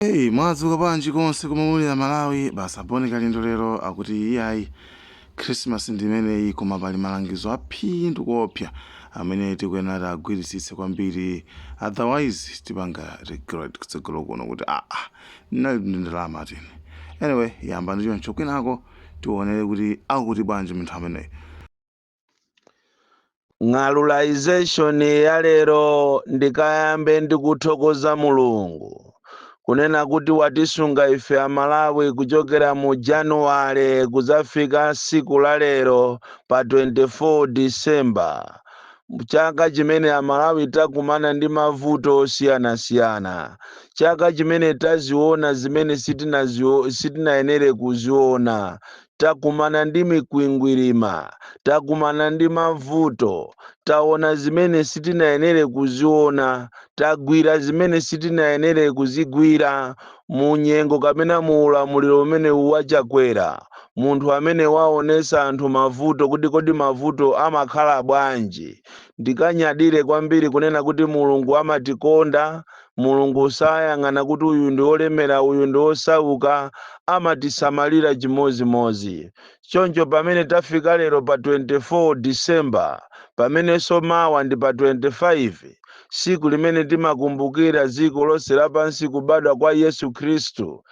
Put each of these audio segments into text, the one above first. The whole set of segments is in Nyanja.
Hey, mwadzuka bwanji konse komwe muli amalawi basi a bon kalindo lero akuti iyayi khrisimasi ndi imeneyi koma pali malangizo aphindu kuopsa amene tikuyenera tiagwiritsitse kwambiri otherwise tipanga regret kutsogolo kuno kuti aa ndinali ndi ndalama tini anyway yambani choncho kwinako tionere kuti akuti bwanji munthu ameneyi ng'alulization ya lero ndikayambe ndikuthokoza mulungu kunena kuti watisunga ife amalawi kuchokera mu januwale kuzafika siku la lero pa 24 disemba chaka chimene amalawi takumana ndi mavuto osiyanasiyana chaka chimene taziona zimene sitinayenere kuziona takumana ndi mikwingwirima, takumana ndi mavuto, taona zimene sitinayenere kuziona, tagwira zimene sitinayenere kuzigwira mu nyengo kapena mu ulamuliro umenewu wa Chakwera, munthu amene waonetsa anthu mavuto kuti kodi mavuto amakhala bwanji. Ndikanyadire kwambiri kunena kuti Mulungu amatikonda. Mulungu sayang'ana kuti uyu ndi wolemera uyu ndi wosauka, amatisamalira chimodzimodzi. Choncho pamene tafika lero pa 24 December, pamenenso mawa ndi pa 25, tsiku limene timakumbukira dziko lonse lapansi kubadwa kwa Yesu Khristu,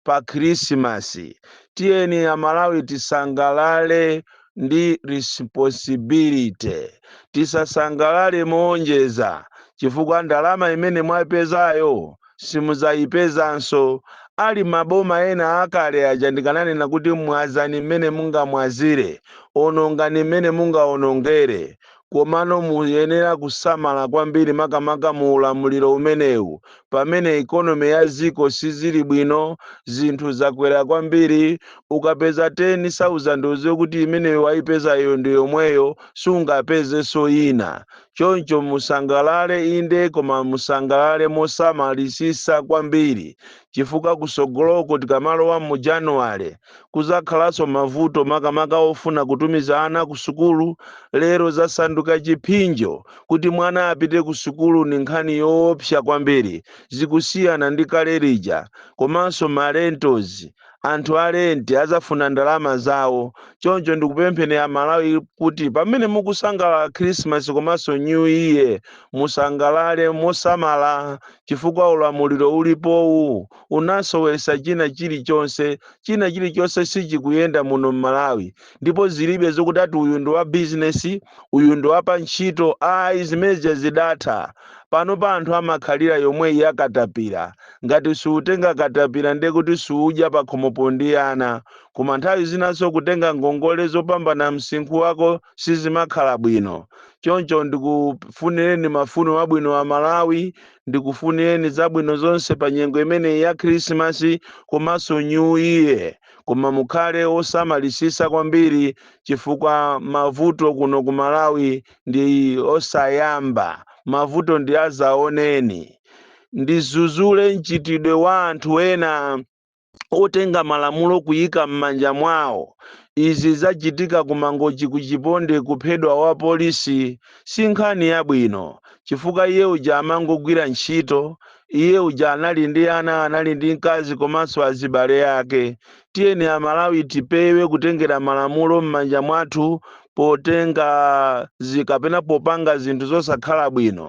pa khrisimasi tiyeni amalawi tisangalale ndi responsibility tisasangalale moonjeza chifukwa ndalama imene mwaipezayo simuzayipezanso ali maboma ena akale aja ndikananena kuti mwazani mmene mungamwazire onongani mmene mungaonongere Komano muyenera kusamala kwambiri makamaka mu ulamuliro umenewu pamene economy ya dziko sizili bwino, zinthu zakwera kwambiri, ukapeza 10,000 udziwe kuti imene waipezayo ndi yomweyo sungapezenso ina. Choncho musangalale inde koma musangalale mosamalisitsa kwambiri chifukwa kusogoloko tikamalowa mu January, Kuzakhalanso mavuto makamaka ofuna kutumiza ana ku sukulu, lero zasanduka chipsinjo kuti mwana apite ku sukulu ndi nkhani yoopsa kwambiri, zikusiyana ndi kale lija, komanso ma rentals, anthu a rent azafuna ndalama zawo, choncho ndikupempheni a Malawi kuti pamene mukusangalala Christmas komanso New Year, musangalale mosamala chifukwa ulamuliro ulipowu unasowesa china chilichonse china chilichonse sichikuyenda muno mmalawi ndipo zilibe zokuti ati uyu ndi wa business uyu ndi wa pa ntchito ayi zimeneja zidatha pano pa anthu amakhalira yomweyi yakatapira ngati siutenga katapira ndiye kuti siudya pakhomopo ndi ana koma nthawi zinanso kutenga ngongole zopambana msinkhu wako sizimakhala bwino choncho ndikufunireni mafuno abwino a malawi ndikufunireni zabwino zonse pa nyengo imeneyi ya khrisimasi komanso new year koma mukhale osamalisisa kwambiri chifukwa mavuto kuno ku malawi ndi osayamba mavuto ndi azaoneni ndizuzule mchitidwe wa anthu ena otenga malamulo kuyika mmanja mwawo izi zachitika ku mangochi ku chiponde kuphedwa wa polisi si nkhani yabwino chifukwa iye uja amangogwira ntchito iye uja anali ndi ana anali ndi mkazi komanso azibale ake tiyeni amalawi tipewe kutengera malamulo mmanja mwathu potenga kapena popanga zinthu zosakhala bwino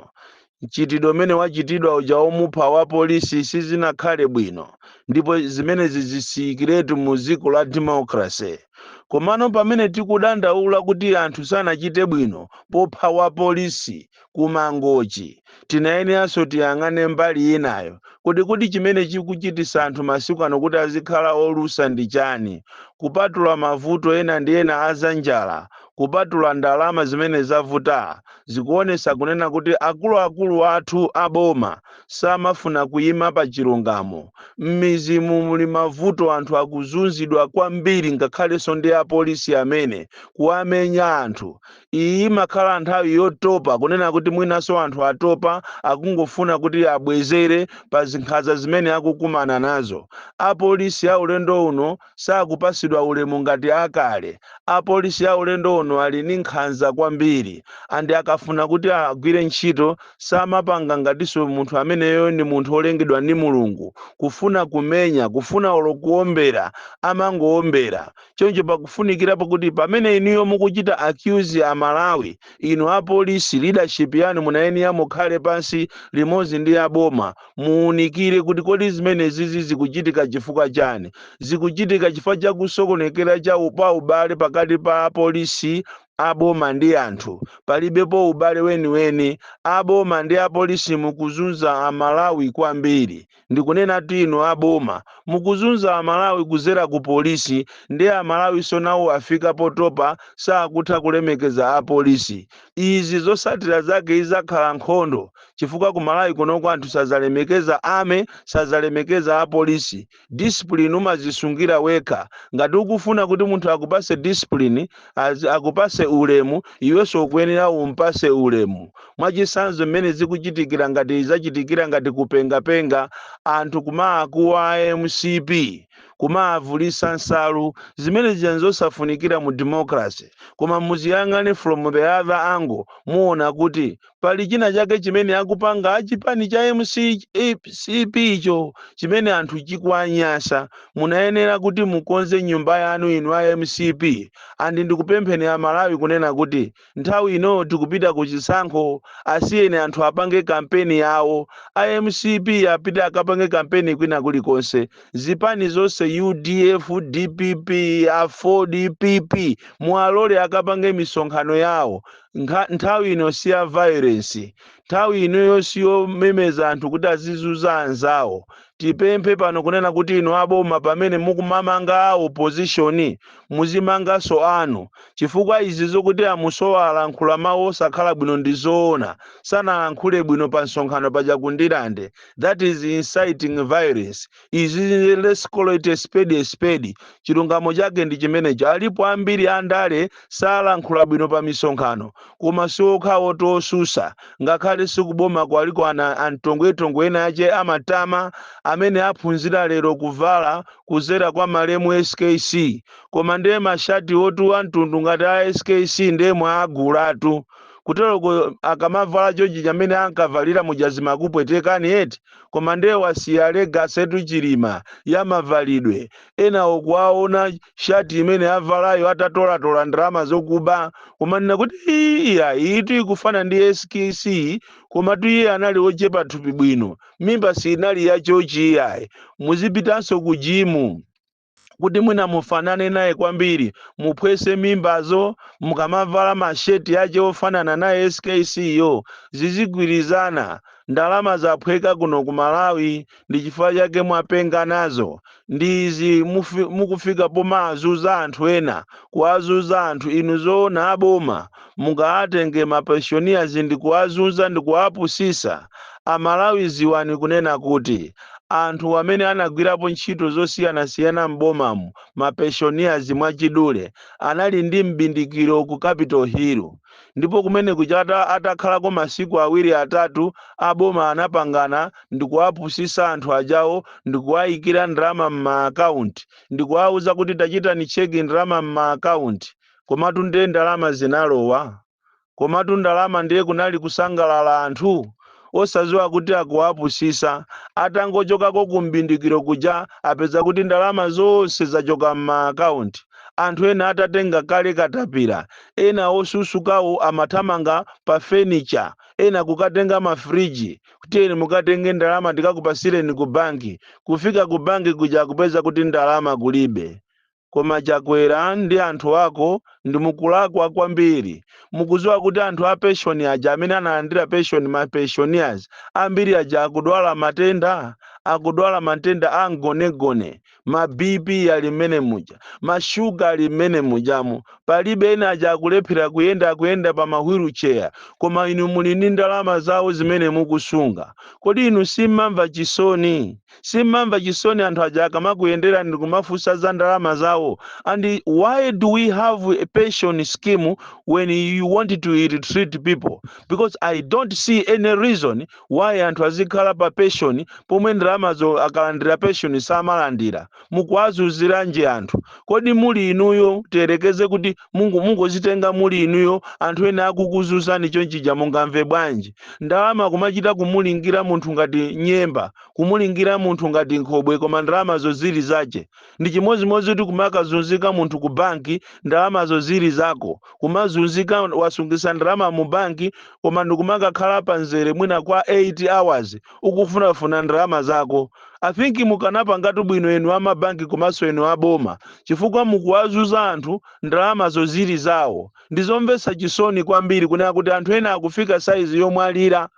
mchitidwe umene wachitidwa uja womupha wa polisi sizinakhale bwino ndipo zimenezi zisiyikiretu mu dziko la democracy komano pamene tikudandaula kuti anthu sanachite bwino popha wa polisi ku mangochi tinayeneranso tiyang'ane mbali inayo kuti kodi chimene chikuchitisa anthu masiku ano kuti azikhala olusa ndi chani kupatula mavuto ena ndi ena azanjala kupatula ndalama zimene zavuta zikuonesa kunena kuti akuluakulu athu a boma samafuna kuyima pa chilungamo. Mmizimu muli mavuto anthu akuzunzidwa kwambiri ngakhalenso ndi apolisi amene kuwamenya anthu. Iyi imakhala nthawi yotopa kunena kuti mwinanso anthu atopa akungofuna kuti abwezere pa zinkhanza zimene akukumana nazo. Apolisi a ulendo uno sakupasidwa ulemu ngati akale. Apolisi a ulendo uno ali ni nkhanza kwambiri and akafuna kuti agwire ntchito samapanga ngatinso munthu ameneyo ni munthu olengedwa ni Mulungu. Kufuna kumenya, kufuna olo kuombera amangoombera. Choncho pakufunikirapo kuti pamene inuyo mukuchita accuse a Malawi, inu apolisi leadership yanu munayenera mukhale pansi limodzi ndi aboma Muunikire kuti kodi zimenezizi zikuchitika chifukwa chani? Zikuchitika chifukwa cha kusokonekera pa ubale pakati pa apolisi a boma ndi anthu. Palibepo ubale weniweni. A boma ndi apolisi mukuzunza a Malawi kwambiri. Ndikunenatu inu a boma. Mukuzunza a Malawi kuzera ku polisi. Ndiye a Malawinso nawo afika potopa sakutha kulemekeza apolisi. izi zosatira zake izakhala nkhondo chifukwa ku malawi kunoko anthu sazalemekeza army sazalemekeza a police discipline umazisungira wekha ngati ukufuna kuti munthu akupase discipline akupase ulemu iwenso ukuyenera umpase ulemu mwachisanzo mmene zikuchitikira ngati izachitikira ngati kupengapenga anthu kumaakuwa a mcp kumavulisa nsalu zimene zija nzosafunikira mu democracy koma muziyang'ane from the other angle muona kuti pali china chake chimene akupanga achipani cha mcp cho chimene anthu chikuwanyasa munayenera kuti mukonze nyumba yanu inu a mcp and ndikupempheni a malawi kunena kuti Nthawi ino tikupita ku chisankho asiyeni anthu apange kampeni yawo. A mcp apite akapange kampeni kwina kulikonse. Zipani zonse udf, dpp, aford, PP muwalole akapange misonkhano yawo. Nthawi ino si ya violence. Nthawi inoyo si yomemeza anthu kuti azizuza anzawo. Tipemphe pano kunena kuti inu a boma pamene mukumamanga a opposition muzimanganso anu chifukwa izi zokuti a Musowa alankhula mawu osakhala bwino ndi zoona, sanalankhule bwino pa msonkhano paja ku Ndirande, that is inciting violence, izizi let's call it a spade a spade, chilungamo chake ndi chimenecho, alipo ambiri a ndale salankhula bwino pa misonkhano koma siokhawo to osusa ngakhale sikuboma kwaliko ana antongwetongo enaake amatama amene aphunzira lero kuvala kuzera kwa malemu skc koma nde mashati otu amtundu ngati a skc nde mwaagulatu kuteroko akamavala chochi amene ankavalira muja zimakupwetekani eti koma nde wasiya legacy tu chilima ya mavalidwe ena okuwaona shati imene avalayo atatolatola ndalama zokuba kumanena kuti "Ii, iya iyitu ikufana ndi skc komatu iye anali wochepa thupi bwino mimba siinali ya chochi iyayi muzipitanso ku jimu kuti mwina mufanane naye kwambiri muphwese mimbazo mukamavala masheti ache ofanana naye skc yo zizigwirizana ndalama zaphweka kuno ku malawi ndi chifukwa chake mwapenga nazo ndi izi mukufika pomawazuza anthu ena kuwazuza anthu inu zoona aboma mungawatenge mapensioners ndi kuwazuza ndi kuwapusisa amalawi ziwani kunena kuti anthu amene anagwirapo ntchito zosiyanasiyana m'bomamu mapensioners mwachidule anali ndi m'bindikiro ku capital hill ndipo kumeneku chata atakhalako masiku awiri atatu a boma anapangana ndikuwapusisa anthu ajawo ndikuwayikira ndalama mma account ndikuwauza kuti tachitani check ndalama mma account komatu nde ndalama zinalowa komatu ndalama ndiye kunali kusangalala anthu osaziwa kuti akuwapusisa atangochokako ku mbindikiro kuja apeza kuti ndalama zonse zachoka mma account anthu ena atatenga kale katapira ena osusukawo amathamanga pa furniture ena kukatenga ma fridge kuti tiyeni mukatenge ndalama ndikakupasireni ku banki kufika ku banki kuja kupeza kuti ndalama kulibe Koma chakwera ndi anthu ako ndimukulakwa kwambiri mukuziwa kuti anthu a peshoni aja amene analandira peshoni ma pensioners ambiri aja akudwala matenda akudwala matenda a mgonagona ma BP ali mmene muja ma sugar ali mmene mujamo palibe ena aja akulephera kuyenda akuyenda pa ma wheel chair koma inu muli ndi ndalama zawo zimene mukusunga kodi inu simmamva chisoni Simmamva chisoni anthu aja akamakuyenderani ndikumafunsa za ndalama zawo and why do we have a pension scheme when you want to ill-treat people because I don't see any reason why anthu azikhala pa pension pomwe ndalamazo akalandira pension samalandira mukuwazuziranji anthu kodi muli inuyo tiyerekeze kuti mungozitenga muli inuyo anthu ena akukuzuzani chonchija mungamve bwanji ndalama kumachita kumulingira munthu ngati nyemba Kumulingira munthu ngati nkhobwe koma ndalamazo zili zache. Ndichimodzimodzi kuti kumakazunzika munthu ku banki ndalamazo zili zako. Kumazunzika wasungisa ndalama mu banki koma ndikumakakhala pa nzere mwina kwa 8 hours ukufunafuna ndalama zako. I think mukanapangatu bwino inu a mabanki komanso inu a boma chifukwa mukuwazuza anthu ndalamazo zili zawo. Ndizomvesa chisoni kwambiri kunena kuti anthu ena akufika size yomwalira.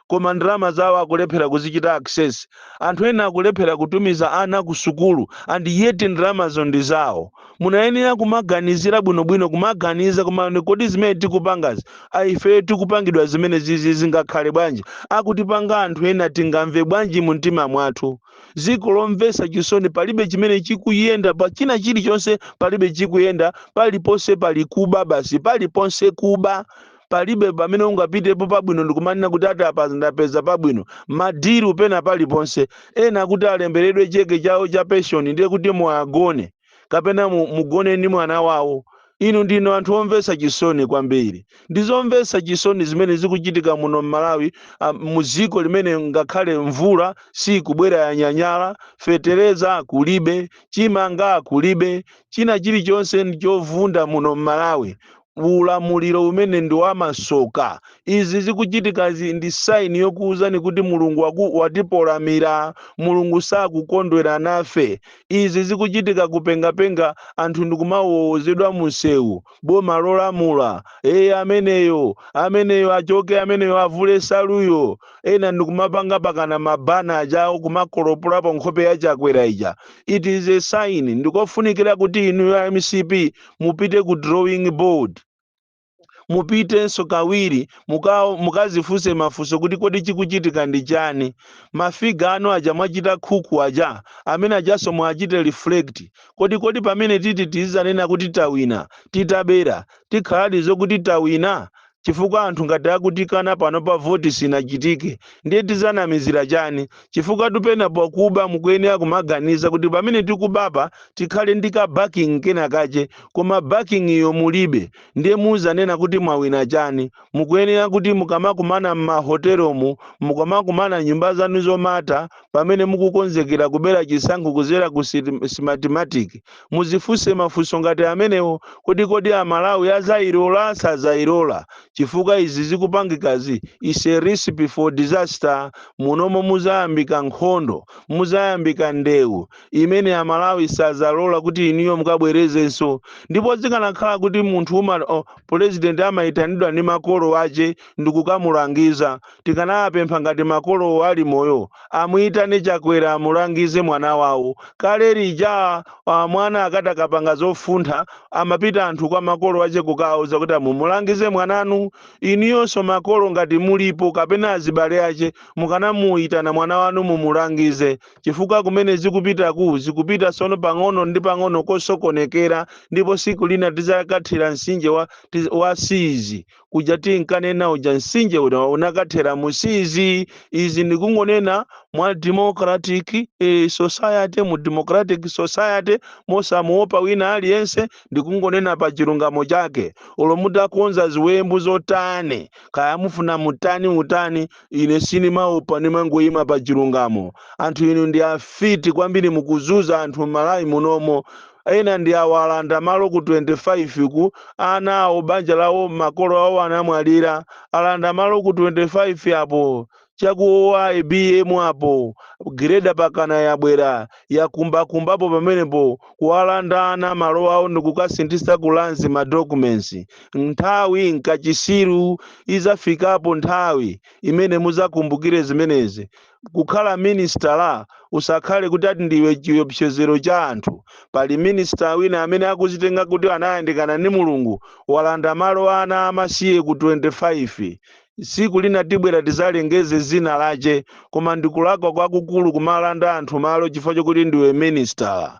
koma ndalama zawo akulephera kuzichita access anthu ena akulephera kutumiza ana ku sukulu and yet ndalamazo ndi zawo munayenera kumaganizira bwinobwino kumaganiza koma kodi zimene tikupangazi ifeyo tikupangidwa zimene zizi zingakhale bwanji akutipanga anthu ena tingamve bwanji mu mtima mwathu ziko lomvesa chisoni palibe chimene chikuyenda pa china chilichonse palibe chikuyenda paliponse pali kuba basi paliponse kuba palibe pamene ungapitepo pabwino ndikumanena kuti ati apa ndapeza pabwino madiru pena paliponse ena kuti alemberedwe cheke chawo cha penshoni ndiye kuti muagone kapena mu- mugone ndi mwana wawo inu ndinu anthu omvetsa chisoni kwambiri ndi zomvetsa chisoni zimene zikuchitika muno m'malawi ah, mu ziko limene ngakhale mvula sikubwera yanyanyala fetereza kulibe chimanga kulibe china chilichonse ndi chovunda muno m'malawi ulamuliro umene ndi wamasoka. Izi zikuchitika ndi sign yokuuzani kuti Mulungu waku, watipolamira. Mulungu sakukondwera nafe. Izi zikuchitika kupengapenga anthu ndikumawowozedwa munsewu. Boma lolamula. Ee ameneyo, ameneyo achoke ameneyo avule saluyo. Ena ndikumapanga pakana ma banner ajawo kumakolopolapo nkhope ya Chakwera ija. It is a sign ndikofunikira kuti inuyo a MCP mupite ku drawing board mupitenso kawiri muka- mukazifunse mafunso kuti kodi chikuchitika ndi chani mafiga anu aja mwachita cook aja amene ajanso muachite reflect kodi kodi pamene titi tizanena kuti tawina titabera tikhaladi zokuti tawina chifukwa anthu ngati akutikana pano pa voti sinachitike ndiye tizanamizira chani chifukwa tu pena pakuba mukuyenera kumaganiza kuti pamene tikubapa tikhale ndi ka backing kena kache koma backing iyo mulibe ndiye muzanena kuti mwawina chani mukuyenera kuti mukamakumana m'mahotelomu mukamakumana m'nyumba zanu zomata pamene mukukonzekera kubera chisankho kuzera ku Smartmatic Muzifunse mafunso ngati amenewo kuti kodi a Malawi azayilola? Sazayilola chifukwa izi zikupangikazi is a recipe for disaster munomo muzayambika nkhondo, muzayambika ndewu imene a Malawi sazalola kuti inuyo mukabwerezenso ndipo zikanakhala kuti munthu u ma President amaitanidwa ndi makolo ache ndikukamulangiza tikanawapempha ngati makolowo ali moyo amuitane Chakwera amulangize mwana wawo kale lija ah, mwana akati akapanga zofuntha amapita anthu kwa makolo ache kukawauza kuti a mumulangize mwananu inuyonso makolo ngati mulipo kapena azibale ache mukanamuitana mwana wanu mumulangize chifukwa kumene zikupitaku zikupita sono pang'ono ndi pang'ono kosokonekera ndipo siku lina tizakathera mtsinje wa, tiz- wa Sizi kuja tinkanena uja mtsinje uja unakathera mu Sizi izi ndikungonena mwa democratic eh, society mu democratic society mosamuopa wina aliyense ndikungonena pa chilungamo chake olo mutakonza ziwembu zotani kaya mufuna mutani mutani ine sinimaopa nimangoyima pa chilungamo anthu inu ndi afiti kwambiri mukuzuza anthu m'Malawi munomo ena ndi awa alanda malo ku 25 ku ana awo banja lawo makolo awo anamwalira alanda malo ku 25 apo chakuwa IBM apo gireda pakana yabwera yakumbakumbapo pamenepo kuwalanda ana malo awo ndikukasinthisa ku Lands ma documents nthawi nkachitsiru izafikapo nthawi imene muzakumbukire zimenezi kukhala minisitala lusakhale kuti ati ndiwe chiopsezero cha anthu pali minisita wina amene akuzitenga kuti anayandikana ndi mulungu walanda malo a ana amasiye ku 25 tsiku lina tibwera tizalengeze zina lache koma ndikulakwa kwakukulu kumalanda anthu malo chifukwa chokuti ndiwe minisitala